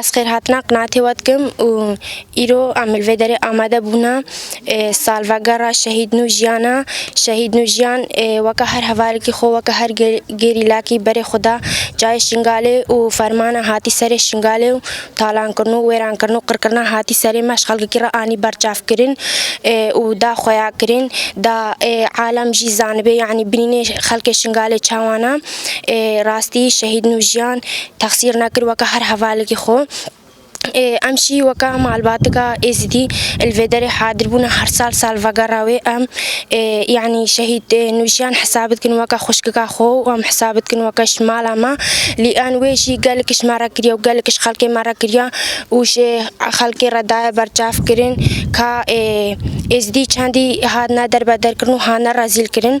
Ez xêrhatina qinaatê we dikim û îro em li vê derê amade bûna salvegera şehîd nû jiyana şehîd nû jiyan weke her hevalekî xwe weke her gerîlakî berê xwe da cayê Şingalê û fermana hatî serê Şingalê û talankirin û wêrankirin û qirkirina hatî serê me ji xelkekî re anî berçavkirin û da xweyakirin da alem jî zanibê yanî binînê xelkê Şingalê çawan e. ê rastî şehîd nû jiyan texsîr nekir weke her hevalekî xwe. Em jî weke malbatika Êzidî li vê derê hadir bûne her sal salvegera wê em yanî şehîd nûjiyan hesab dikin weke xwişkika xwe û em hesab dikin weke ji mala me lê an wê jî gelek ji me re kiriye û gelek ji xelkê me re kiriye û ji xelkê re daye berçavkirin ka Êzidî çendî hatine derbederkirin û hatine rezîlkirin.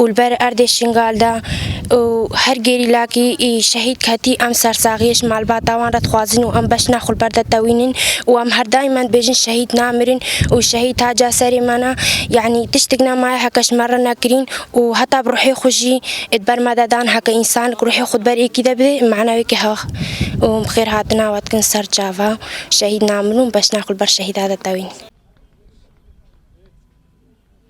û li ber erdê Şingal de û her gerîlakî şehîd ketî em sersaxiyê ji malbata wan re dixwazin û em beş naxwe li ber de tewînin û em her daîm em dibêjin şehîd namirin û şehîd taca serê me ne yanî tiştik nemaye heke ji me re nekirîn û heta bi ruhê xwe jî di ber me de dan heke însanek ruhê xwe di ber êkî de bidê mana wêkî hewa û bi xêr hatina we dikin ser çava şehîd namirin û beş naxwe li ber şehîda de tewînin.